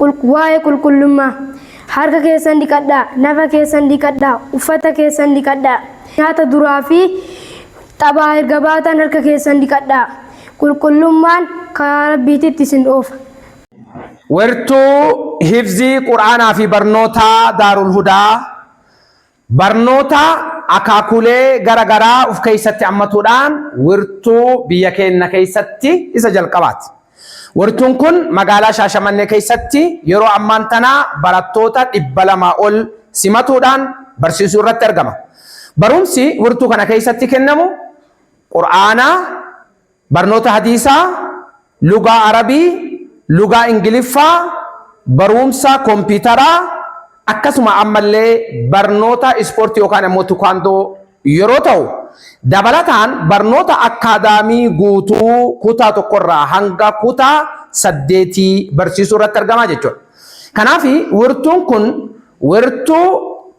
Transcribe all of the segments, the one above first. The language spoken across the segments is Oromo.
Waa'ee qulqullummaa. Harka keessan dhiqadhaa, nafa keessan dhiqadhaa, uffata keessan dhiqadhaa. Nyaata duraa fi taphaa erga baatan harka keessan dhiqadhaa. Qulqullummaan karaa Rabbiititti isin oofa. Wertuu hifzii Qur'aanaa fi barnootaa Daarul Hudaa Barnoota akaakuulee gara garaa uf keessatti ammatuudhaan wirtuu biyya keenna keessatti isa jalqabaati. Wirtuun kun magaalaa Shaashamannee keessatti yeroo ammaan tana barattoota 200 ol simatuudhaan barsiisuu irratti argama. Barumsi wirtuu kana keessatti kennamu Qur'aana, Barnoota Hadiisaa, Lugaa Arabii, Lugaa Ingiliffaa, Baruumsa Kompiitaraa, akkasuma ammallee barnoota Ispoortii yookaan ammoo Tukaandoo yeroo ta'u, dabalataan barnoota Akkaadaamii guutuu kutaa tokko irraa hanga kutaa saddeetii barsiisuu irratti argama jechuudha. Kanaaf wirtuun kun wirtuu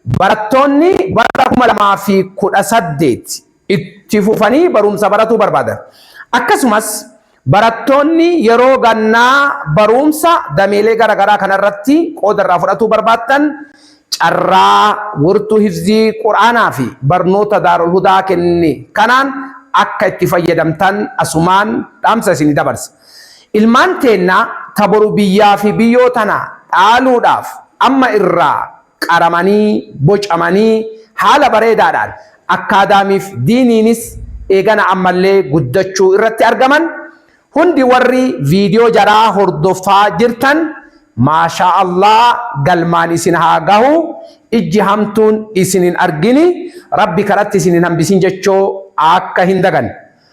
Barattoonni bara 2018 itti fufanii barumsa baratuu barbaadan, akkasumas barattoonni yeroo gannaa baruumsa dameelee gara garaa kana irratti qooda irraa fudhatuu barbaaddan carraa wirtuu hifzii qur'aanaa fi barnoota Daarul Hudaa kenne kanaan akka itti fayyadamtan asumaan dhaamsa isinii dabarsa. Ilmaan teenna ta boru biyyaa fi biyyoo tana dhaaluudhaaf amma irraa qaramanii, bocamanii haala bareedaadhaan akkaadaamiif diiniinis eegana ammallee guddachuu irratti argaman hundi warri video jaraa hordofaa jirtan maashaa allah galmaan isin haa gahu ijji hamtuun isin hin argini rabbi karatti isin hin hambisin jechoo akka hin daganne